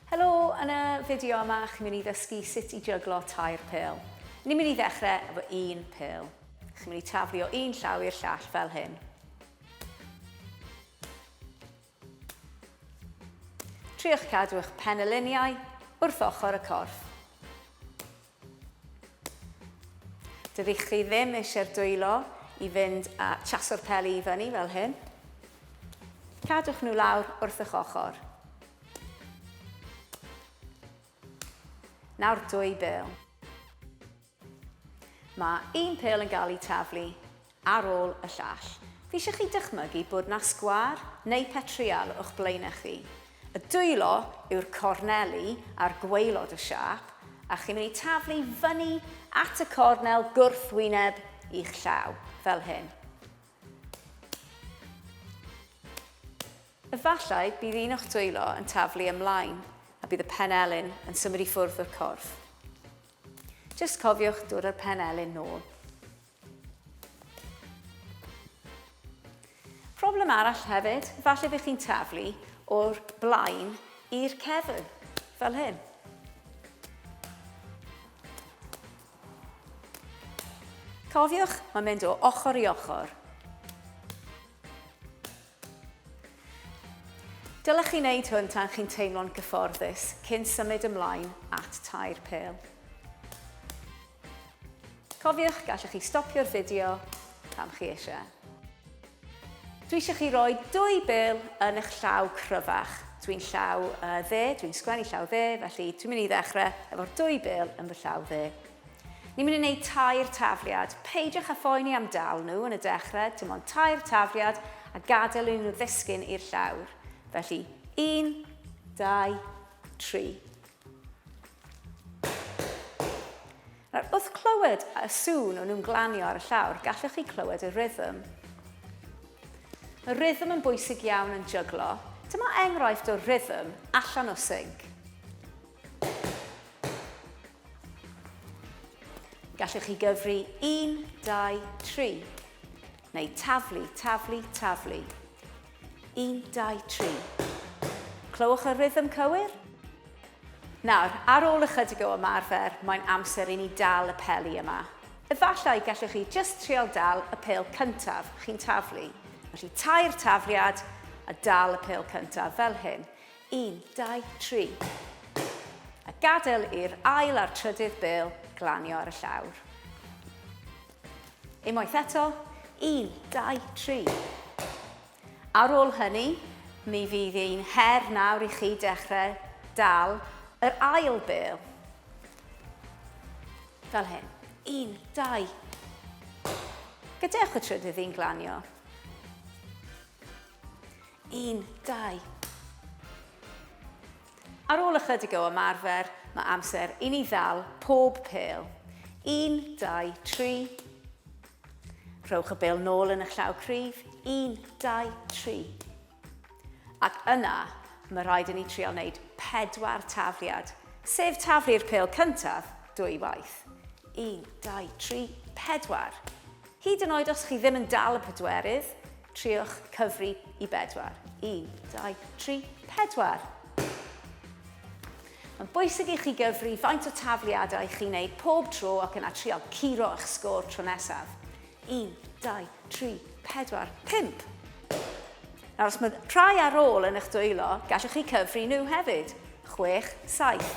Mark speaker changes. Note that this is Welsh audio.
Speaker 1: Helo, yn y fideo yma chi'n mynd i ddysgu sut i jyglo tair pêl. Ni'n mynd i ddechrau efo un pêl. Chi'n mynd i taflu o un llaw i'r llall fel hyn. Triwch cadw eich penyluniau wrth ochr y corff. Dydych chi ddim eisiau'r dwylo i fynd a chaso'r peli i fyny fel hyn. Cadwch nhw lawr wrth eich ochr. Nawr dwy bêl. Mae un pêl yn cael ei taflu ar ôl y llall. Fi isio chi dychmygu bod 'na sgwâr neu petrial o'ch blaenau chi. Y dwylo yw'r corneli ar gwaelod y siâp, a chi'n mynd i taflu fyny at y cornel gwrthwyneb i'ch llaw, fel hyn. Efallai bydd un o'ch dwylo yn taflu ymlaen a bydd y penelin yn symud i ffwrdd o'r corff. Jyst cofiwch dod â'r penelin nôl. Problem arall hefyd, falle bydd chi'n taflu o'r blaen i'r cefn, fel hyn. Cofiwch, mae'n mynd o ochr i ochr. Dylech chi wneud hwn tan chi'n teimlo'n gyfforddus cyn symud ymlaen at tair pêl. Cofiwch, gallwch chi stopio'r fideo pan chi eisiau. Dwi eisiau chi roi dwy bêl yn eich llaw cryfach. Dwi'n llaw uh, dde, dwi'n sgwennu llaw dde, felly dwi'n mynd i ddechrau efo'r dwy bêl yn fy llaw dde. Ni'n mynd i wneud tair tafliad. Peidiwch â phoeni am dal nhw yn y dechrau, dim ond tair tafliad a gadael i nhw ddisgyn i'r llawr. Felly, un, dau, tri. Nawr, wrth clywed y sŵn o'n nhw'n glanio ar y llawr, gallwch chi clywed y rhythm. Mae rhythm yn bwysig iawn yn jyglo. Dyma enghraifft o rhythm allan o sync. Gallwch chi gyfri 1, 2, 3, neu taflu, taflu, taflu. 1, 2, 3. Clywch y rhythm cywir? Nawr, ar ôl ychydig o ymarfer, mae'n amser i ni dal y peli yma. Efallai gallwch chi just trial dal y pel cyntaf chi'n taflu. Felly tair tafliad a dal y pel cyntaf fel hyn. 1, 2, 3. A gadael i'r ail a'r trydydd bêl glanio ar y llawr. Unwaith eto, 1, 2, 3. Ar ôl hynny, mi fydd ein her nawr i chi dechrau dal yr ail bêl. Fel hyn. Un, dau. Gadewch y trydydd un glanio. Un, dau. Ar ôl ychydig o ymarfer, mae amser i ni ddal pob pêl. Un, dau, tri. Rhowch y bêl nôl yn y llaw cryf. Un, dau, tri. Ac yna, mae rhaid i ni trial wneud pedwar tafliad, sef taflu'r pêl cyntaf dwy waith. Un, dau, tri, pedwar. Hyd yn oed os chi ddim yn dal y pedwerydd, triwch cyfri i bedwar. Un, dau, tri, pedwar. Mae'n bwysig i chi gyfri faint o tafliadau chi'n neud pob tro ac yna trial curo eich sgôr tro nesaf. Un, dau, tri, pedwar, pump. Nawr, os mae rhai ar ôl yn eich dwylo, gallwch chi cyfri nhw hefyd. Chwech, saith.